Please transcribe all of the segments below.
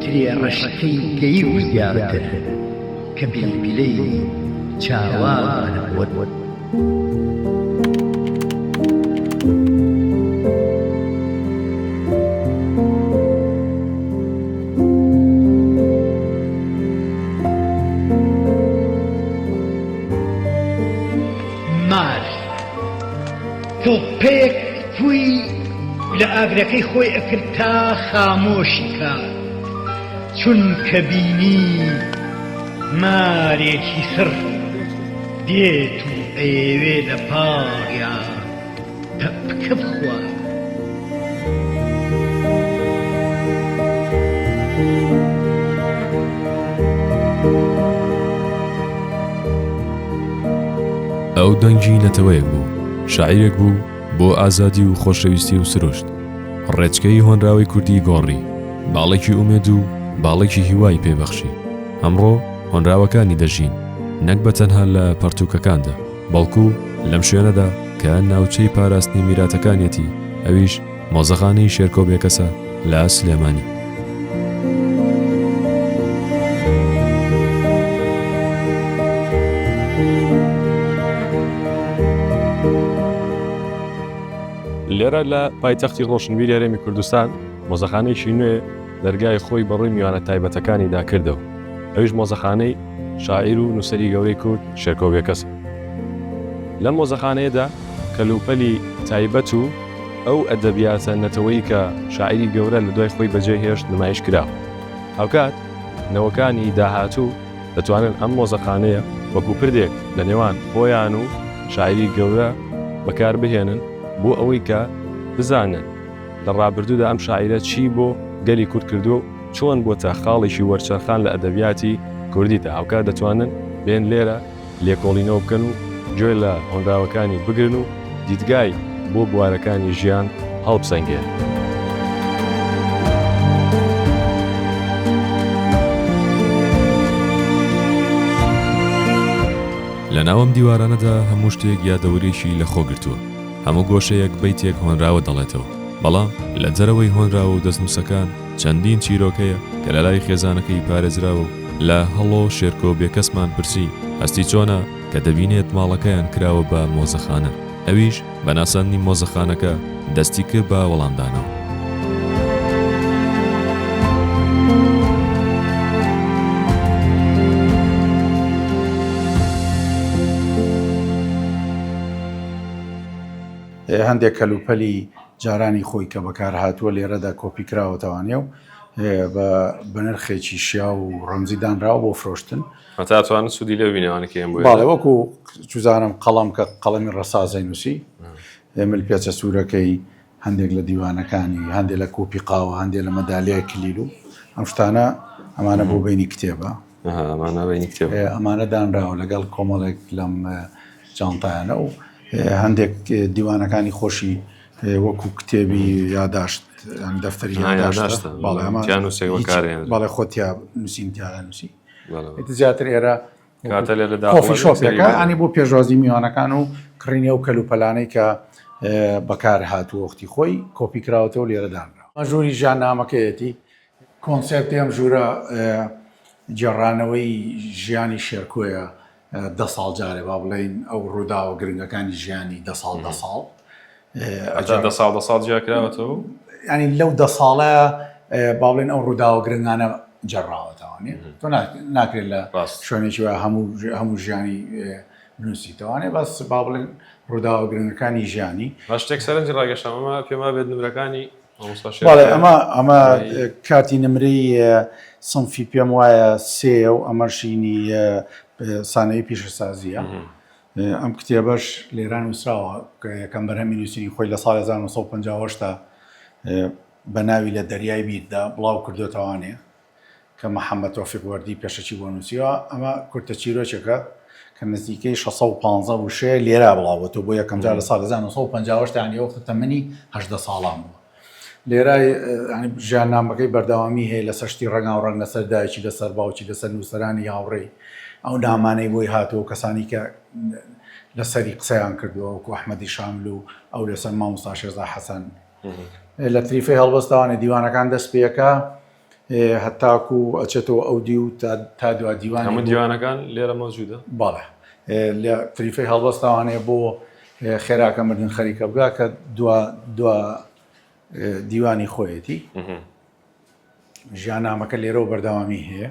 ترێ ڕەشەکەی گەیی و زیاتر کە بیلبیلەی چاوان بووت. تۆپێک فووی لە ئاگرەکەی خۆی ئەکرد تا خامۆشی کات چونکە بینی مارێکی سڕ دێت و ئەیەوێ لە پاڵیا پەپکە بخوات. ئەو دەنگی نەتەوەیەک بوو شاعیرێک بوو بۆ ئازادی و خۆشەویستی و سروشت ڕێچکەی هۆنراوەی کوردی گۆڕی باڵێکی ئومێد و باڵێکی هیوای پێبەخشی ئەمڕۆ هۆنراوەکانی دەژین نەک بە تەنها لە پەرتوکەکاندا بەڵکو لەم شوێنەدا کە ناوچەی پاراستنی میراتەکانیەتی ئەویش مۆزەخانەی شێرکۆ بێکەسە لە سلێمانی. لێرە لە پایتەختی ڕۆشنبیری هەرێمی کوردستان مۆزەخانەیەکی نوێ دەرگای خۆی بەڕووی میوانە تایبەتەکانی داکردەوە ئەویش مۆزەخانەی شاعیر و نووسری گەورەی کورد شێرکۆ بێکەس لە مۆزەخانەیەدا کەلوپەلی تایبەت و ئەو ئەدەبیاتە نەتەوەی کە شاعیری گەورە لە دوای خۆی بەجێ هێشت نمایش کرا. هاوکات نەوەکانی داهاتوو دەتوانن ئەم مۆزەخانەیە وەکوو پردێک لە نێوان خۆیان و شاعیری گەورە بەکار بهێنن بۆ ئەوەی کە بزانن لە ڕابردوودا ئەم شاعیرە چی بۆ گەلی کورد کردووە و چۆن بۆتە خاڵێکی وەرچەرخان لە ئەدەبیاتی کوردیدا. هاوکات دەتوانن بێن لێرە. لێکۆڵینەوە بکەن و گوێ لە هۆنراوەکانی بگرن و دیدگای بۆ بوارەکانی ژیان هەڵبسەنگێنن. لە ناو ئەم دیوارانەدا هەموو شتێک یادەوەریەکی لە خۆ گرتووە، هەموو گۆشەیەک بەیتێک هۆنراوە دەڵێتەوە، بەڵام لە دەرەوەی هۆنراوە و دەستنووسەکان، چەندین چیرۆک هەیە کە لەلای خێزانەکەی پارێزراوە و لە، هەڵۆ شێرکۆ بێکەسمان پرسی، هەستی چۆنە؟ کە دەبینێت ماڵەکەیان کراوە بە مۆزەخانە، ئەویش بە ناساندنی مۆزەخانەکە دەستی کرد بە وەڵامدانەوە. هەندێک کەلوپەلی جارانی خۆی کە بەکارهاتووە لێرەدا کۆپیکراوەتەوانێ و بە بەنرخێکی شیاو و ڕەمزی دانراوە بۆ فرۆشتن. هەتا ئەتوانن سوودی لەو بینەوانە کێم بووێت. باڵێ وەکو چوزانم قەڵەم کە قەڵەمی ڕەسازەی نووسی مل پێچە سوورەکەی هەندێک لە دیوانەکانی هەندێک لە کۆپی قاوە هەندێک لە مەدالیای کلیل و ئەم شتانە ئەمانە بۆ بینی کتێبە. ئەمانە دانراوە لەگەڵ کۆمەڵێک لەم جانتایانە و هەندێک دیوانەکانی خۆشی وەکو کتێبی یاداشت دەفتەری یاداشت بەڵێ خۆتیا نووسین تیادا نووسی زیاتر ئێرە شۆفەکانی بۆ پێشوازی میوانەکان و کڕینی ئەو کەل و پەلانەی کە بەکار هاتووەختی خۆی کۆپی کراوەتەوە لێرەدانرا مەژوری ژیان نامەکەیەتی کۆنسێپتی ئەم ژوورە گێڕانەوەی ژیانی شێرکۆیە دە ساڵ جارێ با بڵێین ئەو ڕووداوە گرنگەکانی ژیانی دە ساڵ دە ساڵ دە ساڵ دە ساڵ جیاکراوەتەوە ینی لەو دە ساڵە با بڵێن ئەو ڕووداوە گرنگانە جێڕاوەتەوانێ تۆ ناکرێت لە شوێنێکی وە هەموو هەموو ژیانی نووسیتەوانێ بەس با بڵێن ڕووداوە گرنگەکانی ژیانی شتێک سەرنجی ڕاگەشتەمەمە پێما بێت نمرەکانی بەڵێ ئەمە ئەمە کاتی نمرەی سنفی پێم وایە سێ و ئەمەشینی سانەی پیشەسازیە ئەم کتێبەش لێران وسراوە یەکەم بەرهەمی نووسینی خۆی لە ساڵ 1950 بە ناوی لە دەریای بیردا بڵاو کردوێتوانێ کە محەممەد تۆفیق وەردی پێشەکی بۆ نووسیوە، ئەمە کورتە چیرۆکێکە کە نزیکەی شەش سەد و پازدە وشەیە، لێرە بڵاو بۆتەوە بۆ یەکەم جار لە ساڵی هەزار و نۆ سەد و پەنجا و هەشت یانی ئەو وەختە تەمەنی هەژدە ساڵان بوو. لێرە ژیاننامەکەی بەردەوامی هەیە لەسەر شتی ڕەنگاوڕەنگ لەسەر دایکی لەسەر باوکی لەسەر نووسەرانی هاوڕێی ئەو نامانەی بۆی هاتووە و کەسانی کە لەسەری قسەیان کردووە وەکو ئەحمەدی شاملو ئەو لەسەر مامۆستا شێرزا حەسەن لە تریفەی هەڵبەستەوە نێدیوانەکان دەست پێەکە هەتاکو ئەچێتەوە ئەو دی و تا دوا دیوان هەموو دیوانەکان لێرە مەوجودە باڵە لە تریفەی هەڵبەستەوانێ بۆ خێراکە مردن خەریکە بگا کە دوا دوا دیوانی خۆیەتی ژیان نامەکە لێرەوە بەردەوامی هەیە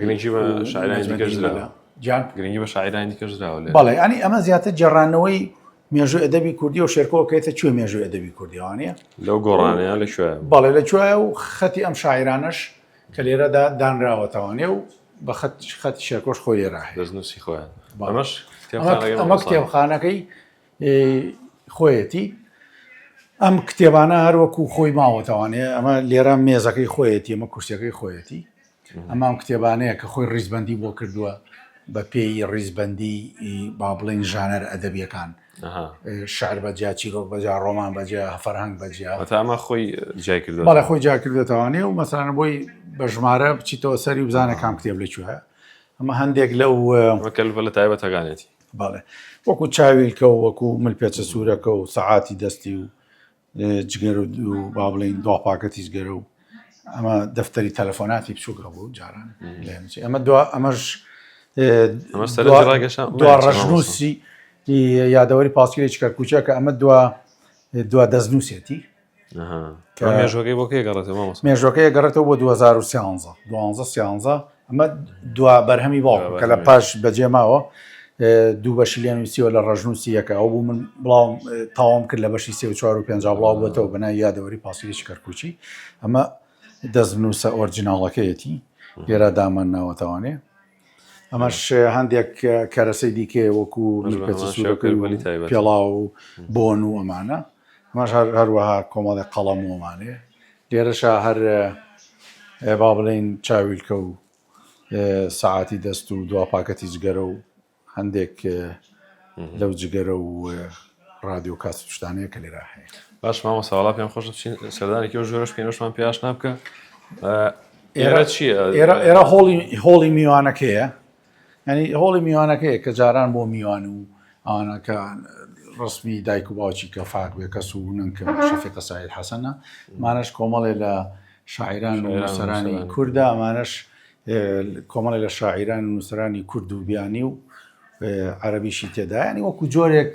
گرنگی بە شاعرانی دیکەش درا جان گرنگی بە شاعرانی دیکەش درا بەڵێ ئەنی ئەمە زیاتر جێڕانەوەی مێژوو ئەدەبی کوردی و شێرکەوە کەێتە کوێ مێژوو ئەدەبی کوردیوانە لەو گۆڕانەیە لە کوێ بەڵێ لە کوێە و خەتی ئەم شاعرانەش کە لێرەدا دانراوەتەوانێ و بە خەت خەت شێرکۆش خۆی لێرا دەستنووسی خۆیان بەمەش ئەمە کتێبخانەکەی خۆیەتی ئەم کتێبانە هەروەکو خۆی ماوەتەوانێ ئەمە لێرە مێزەکەی خۆیەتی ئەمە کورسەکەی خۆیەتی ئەمە ئەو کتێبانەیە کە خۆی ڕیزبەندی بۆ کردووە بە پێی ڕیزبەندی با بڵین ژانەر ئەدەبیەکان شار بەجیا چیرۆک بەجا ڕۆمان بەجیا هەفەرهنگ بەجیا تامە خۆی جای کرد بەڵە خۆی جا کردێتوانێ و مەسانە بۆی بە ژمارە بچیتەوە سەری بزانە کام کتێب لەکوێ ئەمە هەندێک لەو لە تایبەتەکانێتی باڵێ وەکو چاویلکە و وەکو مل پێچە سوورەکە و سەعاتی دەستی و جگەر و با بڵین دوا پاکەتی جگەر و ئەمە دەفتەری تەلەفۆناتی بچووک هەبوو جاران ئەمە دو ئەمەش دوا ڕژنووسی یادەوەری پاسکیری چکەرکوچە کە ئەمە دوا دوا دەستنووسێتی مێژۆکەی بۆ کێ گەڕێتەوە مێژۆکەی گەڕێتەوە بۆ 2013 دوانزە سیانزە ئەمە دوا بەرهەمی باوکم کە لە پاش بەجێ ماوە دوو بەشی لێ نووسیوە لە ڕژنووسی یەکە ئەو بوو من بڵاوم تاوام کرد لە بەشی سێ و چوار و پێنج بڵاو بۆتەوە بەنا یادەوەری پاسیریش کەرکوچی ئەمە دەست نووسە ئۆرجیناڵەکەیەتی لێرا دامان ناوەتەوانێ ئەمەش هەندێک کەرەسەی دیکە وەکو پێڵاو و بۆن و ئەمانە ئەمەش هەروەها کۆمەڵی قەڵەمومانێ لێرەشا هەر با بڵێین چاویلکە و سەعاتی دەست و دوا پاکەتی جگەرە و هەندێک لەو جگەرە و ڕادیۆ کاس شتانەیە کە لێرا هەیە باش مامە ساڵا پێم خۆش بچین سەردانێکی و ژۆرەش پێنەشمان پێش نابکە ئێرە چیە ئێرە هۆڵی هۆڵی میوانەکەیە یعنی هۆڵی میوانەکەیە کە جاران بۆ میوان و ئەوانەکە ڕسمی دایک و باوکی کە فاک بێ کەس و نەنکە شەفی قەسایل حەسەنە مانەش کۆمەڵێ لە شاعران و نووسەرانی کووردا ئەمانەش کۆمەڵێ لە شاعران و نووسەرانی کورد و بیانی و عەربیشی تێدایانی وەکو جۆرێک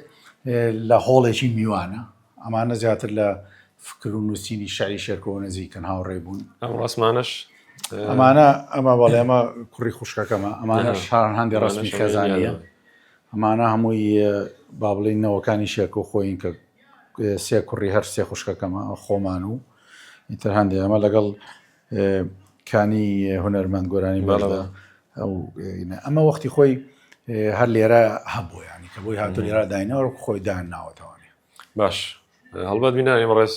لە هۆڵێکی میوانە ئەمانە زیاتر لە فکر و نووسینی شعری شێرکۆوە نزیکن هاوڕێ بوون. ئەم ڕسمانەش ئەمانە ئەمە بەڵێ ئەمە کوڕی خوشکەکەمە ئەمانە شار هەندی ڕسمی خێزانە ئەمانە هەمووی با بڵین نەوەکانی شێرکۆ خۆین کە سێ کوڕی هەر سێ خوشکەکەمە خۆمان و ئیتر هەندێک ئەمە لەگەڵ کانی هونەرمەند گۆرانی بەڵەوە ئەو ئەمە وەختی خۆی هەر لێرە هەبوو ینی کە بۆی هاتو لێرا داینەوە خۆی دان ناوەتەوانێ باش هەڵبەت بینانی ڕێز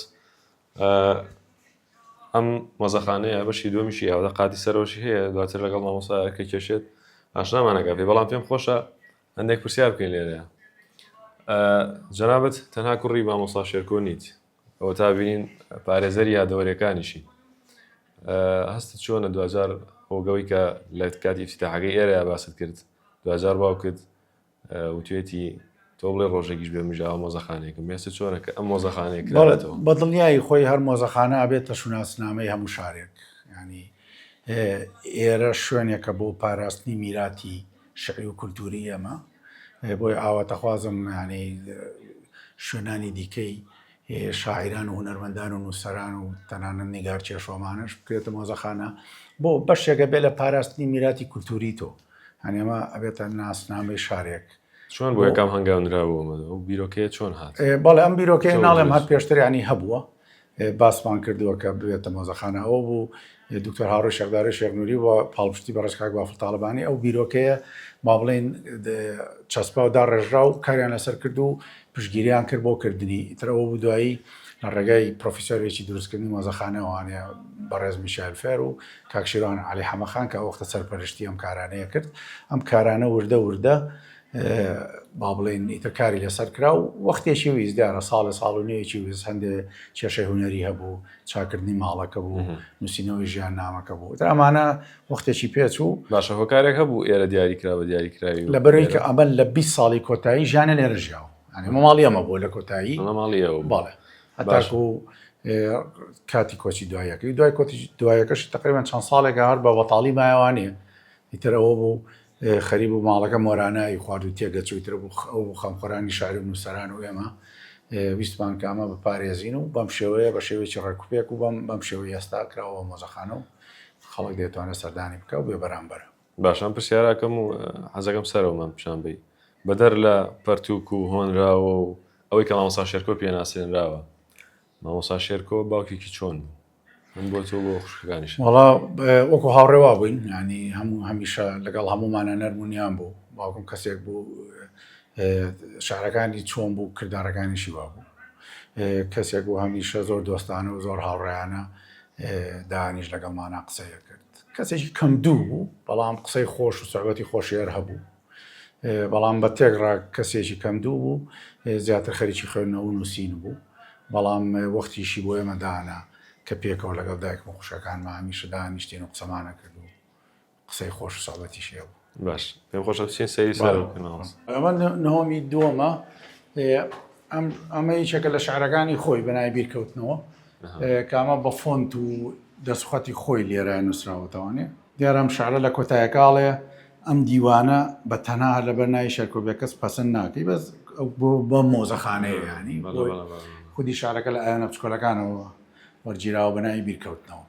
ئەم مەزەخانەیە بەشی دومیشی ئەوە قاتی سەرۆشی هەیە دواتر لەگەڵ مامۆسا کە کێشێت ئاشنامانەکە پێ بەڵام پێم خۆشە هەندێک پرسیار بکەین لێرەیە جەنابەت تەنها کوڕی مامۆسا شێرکۆ نیت ئەوە تا بینین پارێزەری یادەوەریەکانیشی هەستت چۆنە دوجار هۆگەوەی کە لە کاتی ئفتتاحەکەی ئێرە باست کرد دوجار باوکت وتێتی تۆ بڵێ ڕۆژێکیش بێ مژاوە مۆزەخانێکم مێسە چۆنە کە ئەم مۆزەخانەیە کرێتەوە بە دڵنیایی خۆی هەر مۆزەخانە بێتە شوناسنامەی هەموو شارێک ینی ئێرە شوێنێکە بۆ پاراستنی میراتی شعی و کولتوری ئێمە بۆیە ئاواتەخوازم یانی شوێنانی دیکەی شاعیران و هونەرمەندان و نووسەران و تەنانەت نیگار چێشۆمانش بکرێتە مۆزەخانە بۆ بەشێکە بێ لە پاراستنی میراتی کولتوری تۆ هەنێمە ئەبێتە ناسنامەی شارێک چۆن بۆ یەکەم هەنگاونراوەوە بیرۆکەیە چۆن هات بەڵێ ئەم بیرۆکەی ناڵێم هەر پێشتریانی هەبووە باسمان کردووە کە ببێتە مۆزەخانە ئەوە بوو دکتۆر هاوڕێ شەخدارە شێخ نوری و پاڵپشتی بە ڕێزکاک بافڵ تاڵبانی ئەو بیرۆکەیە ما بڵین چەسپا و داڕێژرا و کاریان لەسەر کرد و پشگیریان کرد بۆ کردنی ترەوە بوو دوایی لە ڕێگای پرۆفیسۆرێکی دروستکردنی مۆزەخانەوانەیە بەڕێز میشال فێر و کاکشیران علی حەمەخان کە وەختە سەرپەرشتی ئەم کارانەیە کرد ئەم کارانە وردە وردە با بڵێین ئیتر کاری لەسەر کرا و وەختێکی ویست دیارە ساڵێ ساڵ و نوێیەکی ویست هەندێ کێشەی هوەری هەبوو چاکردنی ماڵەکە بوو نووسینەوەی ژیان نامەکە بوو ئەمانە وەختێکی پێچ و باشە هۆکارێک هەبوو ئێرە دیاری کرا بە دیاری کراوی لە بەرەی کە ئەمە لە 20 ساڵی کۆتایی ژیانە لێرە ژیاوە ماڵی ئەمە بۆ لە کۆتایی ماڵیەوە باڵێ هەتاش و کاتی کۆچی دوایەکەی دوای کۆتی دوایەکەش تقریبان چەند ساڵێک هەر بە بەتاڵی مایوانە ئیترەوە بوو خەریب بوو ماڵەکە مۆرانە ی خوارد و تێکدەچوو، ئیتر ئەو بوو خەمخۆرانی شاری و نووسەران و ئێمە ویستمان کە ئەمە بپارێزین و بەم شێوەیە بە شێوەیەکی ڕێکوپێک و بەم بەم شێوەی ئێستا کراوە بە مۆزەخانە و خەڵک دەیتوانێت سەردانی بکە و بێبەرامبەرە. باشە ئەم پرسیاراکەم و حەزەکەم سەرەوەمان پیشان بەی، بەدەر لە پەرتووک و هۆنراوە و ئەوەی کە مامۆستا شێرکۆ پێ ناسێنراوە، مامۆسا شێرکۆ باوکێکی چۆن بوو؟ من بۆ تۆ بۆ خوشکەکانیش وڵا وەکو هاوڕێوا بووین ینی هەموو هەمیشە لەگەڵ هەموومانە نەرمونیان بوو باوکم کەسێک بوو شارەکانی چۆن بوو کردارەکانیشی وا بوو کەسێک بوو هەمیشە زۆر دۆستانە و زۆر هاوڕێیانە دانیش لەگەڵمانە قسەیە کرد کەسێکی کەم دوو بوو بەڵام قسەی خۆش و سەعبەتی خۆشێر هەبوو بەڵام بە تێکڕا کەسێکی کەمدوو بوو، زیاتر خەریکی خوێندنەوە و نووسین بوو، بەڵام وەختیشی بۆ ئێمە دانا کە پێکەوە لەگەڵ دایکم و خوشکەکانمە هەمیشە دانیشتین و قسەمان ئەکرد و قسەی خۆش و سوعبەتیشی هەبوو. باش پێم خۆشە بچین سەیری سەر بکەین مامۆستا. ئەمە نهۆمی دووەمە، ئەمە یەکێکە لە شعرەکانی خۆی بە ناوی بیرکەوتنەوە، کە ئەمە بە فۆنت و دەسوخەتی خۆی لێرە نووسراوەتەوانێ. دیارە ئەم شعرە لە کۆتایەکە ئەڵێ، ئەم دیوانە بە تەنها هەر لەبەر ناوی شێرکۆ بێکەس پەسند ناکەی بەس بۆ بە مۆزەخانەیە یانی خودی شارەکە لە ئایۆنە بچکۆلەکانەوە وەرگیراوە بە ناوی بیرکەوتنەوە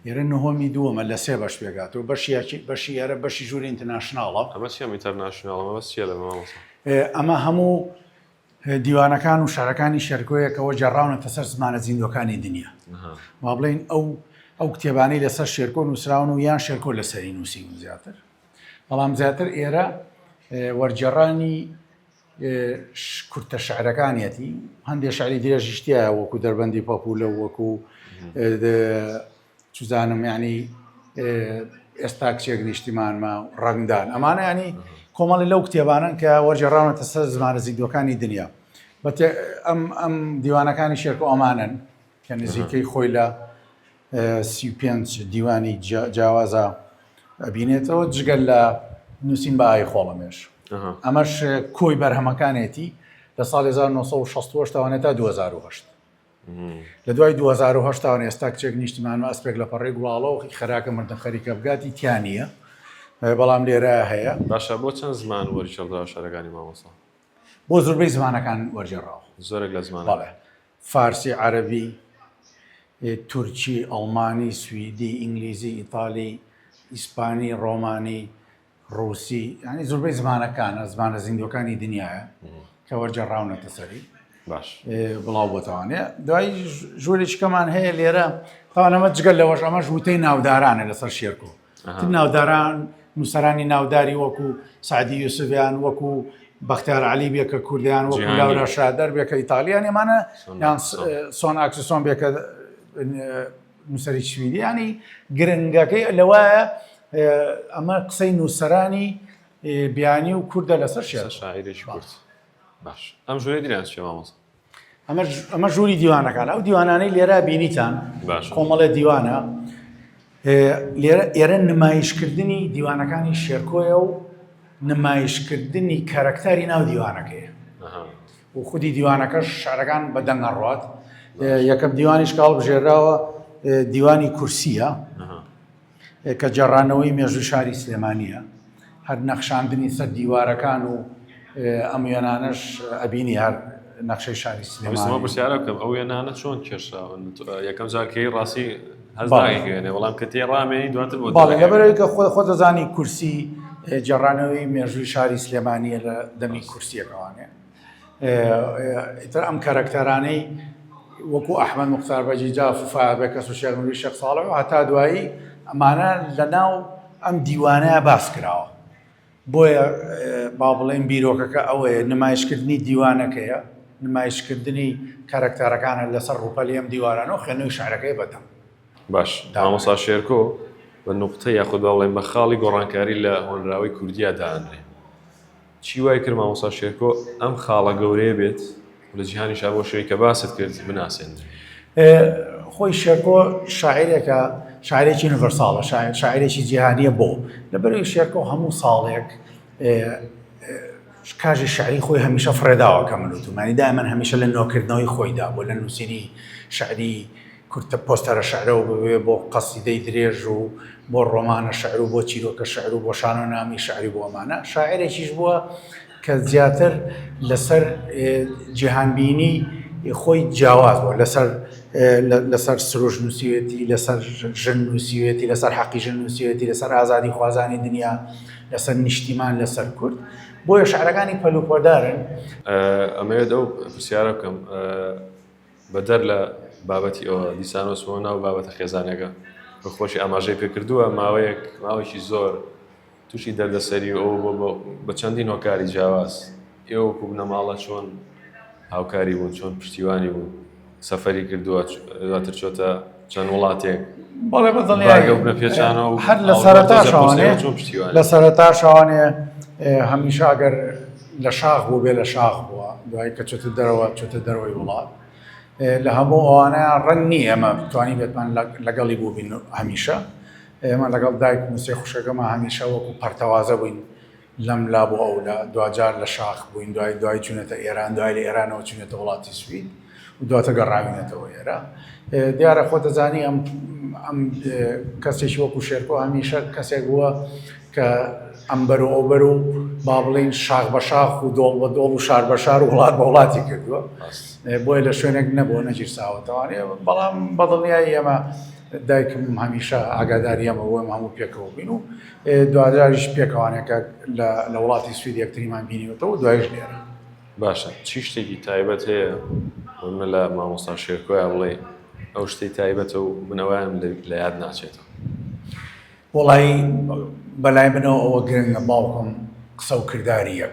ئێرە نهۆمی دووەمە لە سێ بەش پێگاتەوە بەشیاکی بەشی ئێرە بەشی ژووری ئینتەناشناڵە ئەمە سیام ئینتەرناشناڵەوە سیە لە مامۆسا ئەمە هەموو دیوانەکان و شعرەکانی شێرکۆیەکەوە گێڕراونەتە سەر زمانە زیندووەکانی دنیا. با بڵێین ئەو ئەو کتێبانەی لەسەر شێرکۆ نووسراون و یان شێرکۆ لەسەری نووسی و زیاتر بەڵام زیاتر ئێرە وەرجێڕانی کورتە شعرەکانیەتی هەندێک شعری درێژیشتیایە وەکو دەربەندی پاپولە وەکو چزانم یعنی ئێستا کچێک نیشتیمانمە ڕەنگدان ئەمانە ینی کۆمەڵی لەو کتێبانن کە وەرجێڕاونەتە سەر زمانە زیندوەکانی دنیا بە ئەم ئەم دیوانەکانی شێرکە ئۆمانن کە نزیکەی خۆی لە سی پێنج دیوانی جیاوازە ئەبینێتەوە جگەل لە نووسین بە ئای خۆڵەمێش ئەمەش کۆی بەرهەمەکانێتی لە ساڵ 1960 تاوانێت تا 2010 لە دوای دوو هەزار و هەشت تاوەن ئێستا کچێک نیشتیمان و ئەسپێک لە پەڕی گوڵاڵە و خەراکە مردن خەریکە بگاتی تیا نییە بەڵام لێرە هەیە باشە بۆ چەند زمان وەرچەڵدا شارەکانی مامۆسا بۆ زۆربەی زمانەکان وەرجێڕاو زۆرێک لە زمان بەڵێ فارسی عەربی تورکی ئەڵمانی سوئدی ئینگلیزی ئیتالی ئیسپانی ڕۆمانی ڕووسی ینی زۆربەی زمانەکانە زمانە زیندوەکانی دنیاە کە وەرجەڕاونەتە سەری باش بڵاو بۆتەوانێ دوای ژوورێکەمان هەیە لێرە تاوانەمە جگەل لەوەش ئەمە ژووتەی ناودارانە لەسەر شێرکۆ ناوداران نووسرانی ناوداری وەکو سعدی یوسفیان وەکو بەختیار علی بێکە کوردیان وەکو لاورا شادەر بێکە ئیتالیان ێمانە یان سۆن ئاکسسۆن بێکە نووسەری سویدی ینی گرنگەکەی لەوایە ئەمە قسەی نووسەرانی بیانی و کووردە لەسەر شێ شاعرێکی کورد باش ئەم ژورێ دیران شێ مامۆستا ئەمە ژووری دیوانەکان ئەو دیوانانەی لێرا بینیتان کۆمەڵێ دیوانە ئێرە نمایشکردنی دیوانەکانی شێرکۆیە و نمایشکردنی کارەکتاری ناو دیوانەکەی و خودی دیوانەکەش شعرەکان بە دەنگ ئەڕوات یەکەم دیوانیش کاڵ بژێراوە دیوانی کورسیە کە جێڕانەوەی مێژوو شاری سلێمانیە هەر نەخشاندنی سەر دیوارەکان و ئەم وێنانەش ئەبینی هەر نەخشەی شاری سلێمانەوە پرسیارە بکەم ئەو وێنانە چۆن کێشراون یەکەم جارکەی ڕاستی لەبەرەوەیکە خۆ خۆتەزانی کورسی جێڕانەوەی مێژووی شاری سلێمانیە لە دەمی کورسیەکەوانێ ئیتر ئەم کارەکتەرانەی وەکو ئەحمد مختار بەجی جاف و فابێ کەس و شێرمەوی شەق ساڵەوە هەتا دوایی ئەمانە لە ناو ئەم دیوانە باس کراوە بۆیە با بڵێین بیرۆکەکە ئەوەیە، نمایشکردنی دیوانەکەیە، نمایشکردنی کارەکتەرەکانە لەسەر ڕووپەلی ئەم دیوارانە و خوێندنەوەی شیعرەکەی بە دەم. باش، مامۆستا شێرکۆ بە نوقتە یاخود با بڵێین بە خاڵی گۆڕانکاری لە هۆنراوەی کوردییا دائەنرێ. چی وای کرد مامۆستا شێرکۆ ئەم خاڵە گەورەیە بێت؟ لە جیهانیشا بۆ شوێنی کە باست کرد بناسێن خۆی شێرکۆ شاعرێکە شاعرێکی یونیڤەرساڵە شاعرێکی جیهانیە بۆ لەبەروی شێرکۆ هەموو ساڵێک کاژی شعری خۆی هەمیشە فرێداوە کە من وتومانی دای من هەمیشە لە نۆکردنەوەی خۆیدا بۆ لە نووسری شعری کورتە پۆستەرە شعرەوە بوێ بۆ قەسیدەی درێژ و بۆ ڕۆمانە شعر و بۆ چیرۆکە شعر و بۆ شانۆ نامی شعری بۆمانە شاعرێکیش بووە کە زیاتر لەسەر جیهانبینی خۆی جیاواز بووە لەسەر لەسەر سروش نووسیوێتی لەسەر ژن نووسیوێتی لەسەر حەقی ژن نووسیوێتی لەسەر ئازادی خوازانی دنیا لەسەر نیشتیمان لەسەر کورد بۆیە شعرەکانی پەلوپۆدارن ئەمەوێت ئەو پرسیارە بکەم بەدەر لە بابەتی ئەوە دیسانۆسەوە ناو بابەتە خێزانەکە بە خۆشی ئاماژەی پێکردووە ماوەیەک ماوەیەکی زۆر تووشی دەردەسەری و ئەوە بۆ بە چەندین هۆکاری جیاواز ئێوە وەکوو بنەماڵە چۆن هاوکاری بوون چۆن پشتیوانی بوون سەفەری کردووە دواتر چۆتە چەند وڵاتێک بەڵێ بە دڵنیایگە بنە پێچانەوە و هەر لە سەرەتا شوانێ چۆن پشتیوان لە سەرەتا شوانێ هەمیشە ئەگەر لە شاخ بوو بێ لە شاخ بووە دوای کە چۆتە دەرەوە چۆتە دەرەوەی وڵات لە هەموو ئەوانە ڕەنگ نییە ئەمە بتوانین بێتمان لەگەڵی بووبین هەمیشە ئێمە لەگەڵ دایکم و سێ خوشکەکەما هەمیشە وەکو پەرتەوازە بووین لەم لا بۆ ئەو لا، دواجار لە شاخ بووین، دوای دوای چووینەتە ئێران، دوای لە ئێرانەوە چووینەتە وڵاتی سوید و دواتر گەڕاوینەتەوە ئێرە. دیارە خۆ دەزانی ئەم ئەم کەسێکی وەکو شێرکۆ هەمیشە کەسێک بووە کە ئەمبەر و ئەوبەر و با بڵین شاخ بە شاخ و دۆڵ بە دۆڵ و شار بە شار و وڵات بە وڵاتی کردووە بۆیە لە شوێنێک نەبووە نەگیرساوەتەوانێ بەڵام بەدڵنیای ئێمە دایکم هەمیشە ئاگاداری ئەمە بوو، ئێمە هەموو پێکەوە بووین و دواتریش پێکەوانێکە لە وڵاتی سوید یەکتریمان بینیوەتەوە دوایش لێرە. باشە چی شتێکی تایبەت هەیە من لە مامۆستا شێرکۆیا بڵێ ئەو شتی تایبەتە و من ئەویان لە یاد ناچێتەوە وڵی بەلای منەوە ئەوە گرنگە باوکم قسە و کرداریە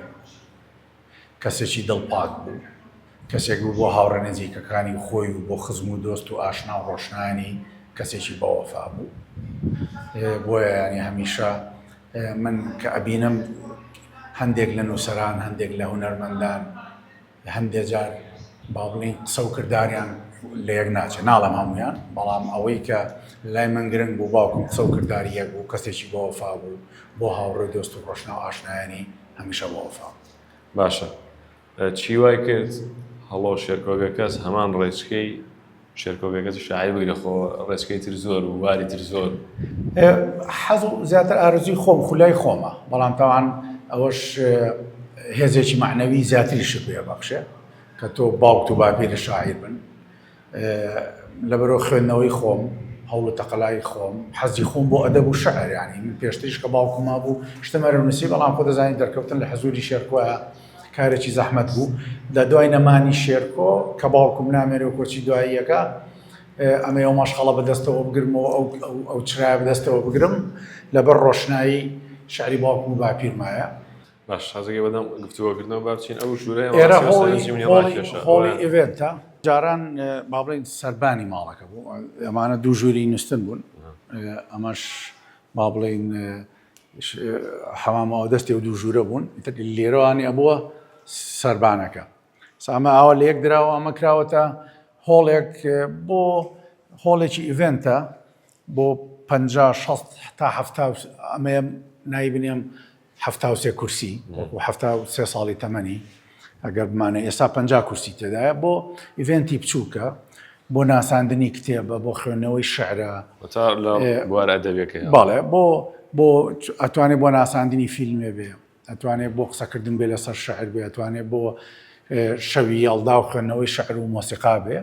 کەسێکی دڵ پاک بوو، کەسێک بوو بۆ هاوڕێ نزیکەکانی و خۆی و بۆ خزم و دۆست و ئاشنا و ڕۆشنانی کەسێکی بەوەفا بوو بۆیە ینی هەمیشە من کە ئەبینم هەندێک لە نووسەران هەندێک لە هونەرمەندان هەندێک جار با بڵین قسە و کردداریان لە یەک ناچێت ناڵم هەمویان بەڵام ئەوەی کە لای من گرنگ بوو باوکم قسە و کردداری یەک بوو کەسێکی بۆ وەفا بوو بۆ هاوڕێ دۆست و ڕۆشنا و ئاشنایانی هەمیشە بۆ ئەڵفا. باشە چی وای کرد هەڵۆ شێرکۆگەکەس هەمان ڕێچکەی شێرکۆگەکەسی شاعیر بووی لە خۆ ڕێچکەی تر زۆر و واری تر زۆر حەز و زیاتر ئارزوی خۆم خولای خۆمە بەڵام تاوان ئەوەش هێزێکی معنەوی زیاتری شت بێ بەخشێ کە تۆ باوکت و باپیری شاعیر بن لەبەرو خوێندنەوەی خۆم، هەوڵ و تەقەلای خۆم، حەزی خۆم بۆ ئەدەب و شعر، یانی من پێشتریش کە باوکم مابوو شتم هەر ئەنووسی، بەڵام خۆ دەزانی دەرکەوتن لە حزووری شێرکۆ کارێکی زەحمەت بوو. لە دوای نەمانی شێرکۆ کە باوکم نامێنێ و کۆچی دواییەکە ئەمەی ئەو مەشخەڵە بەدەستەوە بگرم و ئەو چرایە بەدەستەوە بگرم، لەبەر ڕۆشنایی شعری باوکم و باپیرمایە. باش شازگەی بەدەم گفتوگۆکردنەوە با بچین ئەو ژوورە ئێرە هۆڵی ئێڤێنتە جاران با بڵین سەربانی ماڵەکە بوو ئەمانە دوو ژووری نووسن بوون ئەمەش با بڵین حەمامەوە دەستی و دوو ژوورە بوون لێرەوانی ئەبووە سربانەکە سامە ئاوا لە یەک دراوە ئەمە کراوەتە هۆڵێک بۆ هۆڵێکی ئیڤنتە بۆ پ تا هەفتا ئەمەیە نایبنێم حەفتا و سێ کورسی وەکو حەفتا و سێ ساڵی تەمەنی ئەگەر بمانە ئێستا پەنجا کورسی تێدایە بۆ ئیڤێنتی بچووکە بۆ ناساندنی کتێبە بۆ خوێندنەوەی شعرە تا لە ئێ، بوارە ئەدەبیەکەی بەڵێ بۆ بۆ ئەتوانێت بۆ ناساندنی فیلمێ بێ ئەتوانێت بۆ قسەکردن بێ لەسەر شعر بێ ئەتوانێت بۆ ئێ، شەوی یەڵدا و خوێندنەوەی شعر و مۆسیقا بێ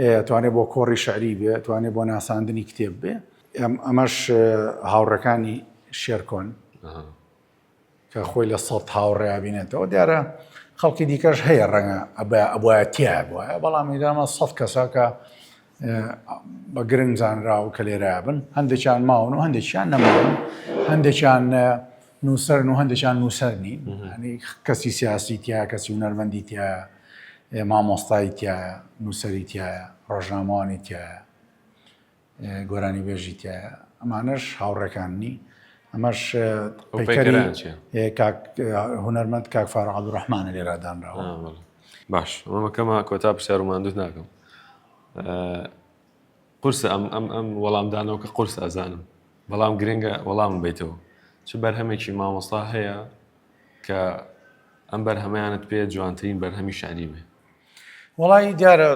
ئێ، ئەتوانێت بۆ کۆڕی شعری بێ ئەتوانێت بۆ ناساندنی کتێب بێ ئەمەش هاوڕەکانی شێرکۆن کە خۆی لە سەد هاوڕێیا بینێتەوە دیارە خەڵکی دیکەش هەیە ڕەنگە ئەبایە تیا بواە بەڵام ئیدامە سەد کەساکە بە گرنگ زانرا و کە لێرا بن هەندێکیان ماون و هەندێکیان نەماون هەندێکیان نووسەر و هەندێکیان نووسەر نین کەسی سیاسی تیا کەسی و نەرمەندی تیا مامۆستای تایە نووسری تایە ڕۆژنامەوانی تایە گۆرانیبێژی تایە ئەمانەش هاوڕێکاننی ئەمەش هونەرمەند کاک فارە عبدڕحمانە لێرادانراوە باش ئەمەکەمە کۆتا پرسیار و ماندوت ناکەم قرسە ئەم ئەم ئەم وەڵامدانەوە کە قرس ئازانم بەڵام گرنگە وەڵام بیتەوە چ بەرهەمێکی مامۆستا هەیە کە ئەم بەرهەمەیانت پێ جوانترین بەرهەمی شاری بێ وەڵی دیارە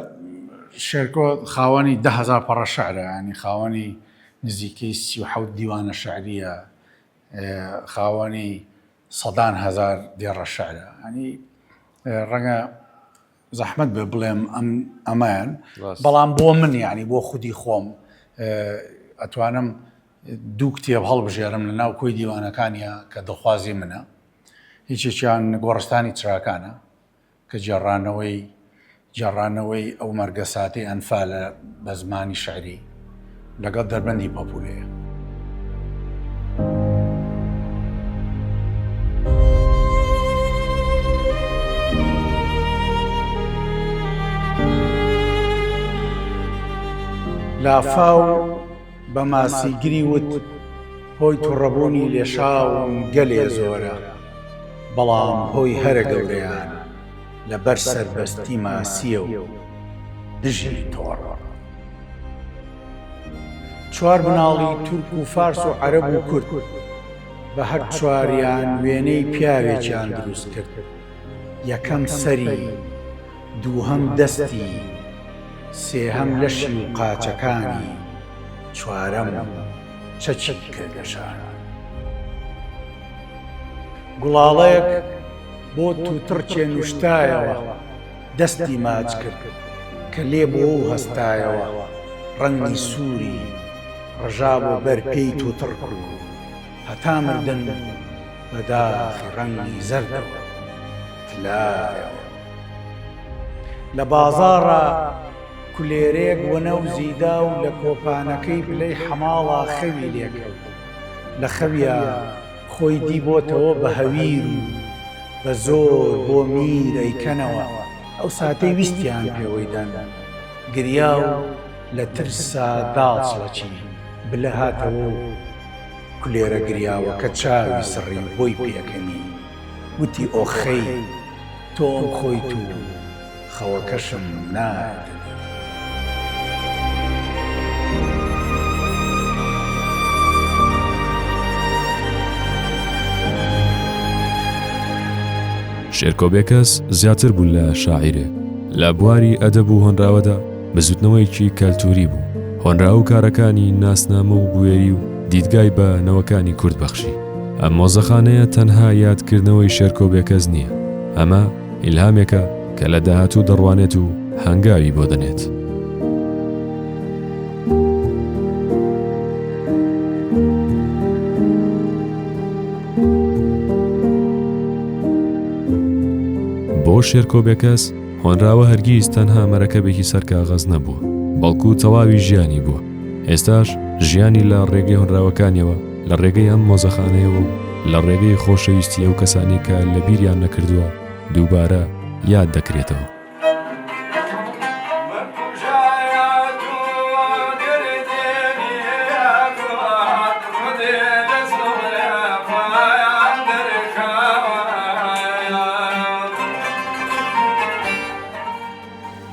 شێرکۆ خاوەنی دههزار پەڕە شعرە ینی خاوەنی نزیکەی سی و حەوت دیوانە شعریە خاوەنی سەدان هزار دێڕە شعرە ینی ڕەنگە زەحمت بێ بڵێم ئەم ئەمەیان بەڵام بۆ من یعنی بۆ خودی خۆم ئەتوانم دوو کتێب هەڵبژێرم لە ناو کۆی دیوانەکانیە کە دڵخوازی منە هیچێکیان گۆڕستانی تراکانە کە گێڕانەوەی گێڕانەوەی ئەو مەرگەساتەی ئەنفالە بە زمانی شعری لەگەڵ دەربەندی پەپورەیە. لافاو بە ماسیگری وت، هۆی توڕەبوونی لێشاوم گەلێ زۆرە، بەڵام هۆی هەرە گەورەیان لە بەر سەربەستی ماسییە و دژی تۆڕە. چوار مناڵی تورک و فارس و عەرەب و کورد، بە هەر چواریان وێنەی پیاوێکیان دروست کرد، یەکەم سەری، دووهەم دەستی، سێهەم لەشی و قاچەکانی، چوارەم چەکی کرد لە شانە. گوڵاڵەیەک بۆ تووتڕ چێنوشتایەوە، دەستی ماچ کرد کە لێ بۆ و هەستایەوە، ڕەنگی سووری ڕژابوو بەر پێی تووتڕ کرد و هەتا مردن بە داخی ڕەنگی زەردەوە تلایەوە. لە بازاڕا کولێرێک وەنەوزی دا و لە کۆپانەکەی پلەی حەماڵا خەوی لێ کەوت. لە خەویا خۆی دی بۆتەوە بە هەویر و بە زۆر بۆ میر ئەیکەنەوە، ئەو ساتەی ویستیان پێوەی دەن. گریا و لە ترسا داڵچڵەچی، بلە هاتەوە و کولێرە گریاوەکە چاوی سڕی و بۆی پێکەنی. وتی ئۆخەی تۆم خۆیت و خەوەکەشم نارد. شێرکۆ بێکەس زیاتر بوون لە شاعیرێک لە بواری ئەدەب و هۆنراوەدا، بزوتنەوەیەکی کەلتوری بوو هۆنراوو کارەکانی ناسنامە و بوێری و دیدگای بە نەوەکانی کورد بەخشی. ئەم مۆزەخانەیە تەنها یاد کردنەوەی شێرکۆ بێکەس نییە، ئەمە ئیلهامێکە کە لە داهاتوو دەڕوانێت و هەنگاوی بۆ دەنێت. بۆ شێرکۆ بێکەس هۆنراوە هەرگیز تەنها مەرەکەبێکی سەر کاغەز نەبووە بەڵکو تەواوی ژیانی بووە ئێستاش ژیانی لە ڕێگەی هۆنراوەکانیەوە لە ڕێگەی ئەم مۆزەخانەیەوە و لە ڕێگەی خۆشەویستی ئەو کەسانی کە لە بیریان نەکردووە دووبارە یاد دەکرێتەوە.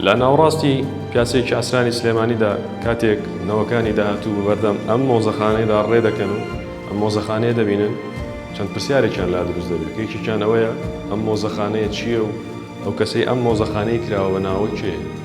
لە ناوەڕاستی پیاسێکی ئاسرانی سلێمانیدا کاتێک نەوەکانی داهاتوو بەردەم ئەم مۆزەخانەیەدا ڕێ دەکەن و ئەم مۆزەخانەیە دەبینن چەند پرسیارێکیان لا دروست دەبێت یەکێکیان ئەوەیە ئەم مۆزەخانەیە چییە و ئەو کەسەی ئەم مۆزەخانەی کراوە بە ناوە کێ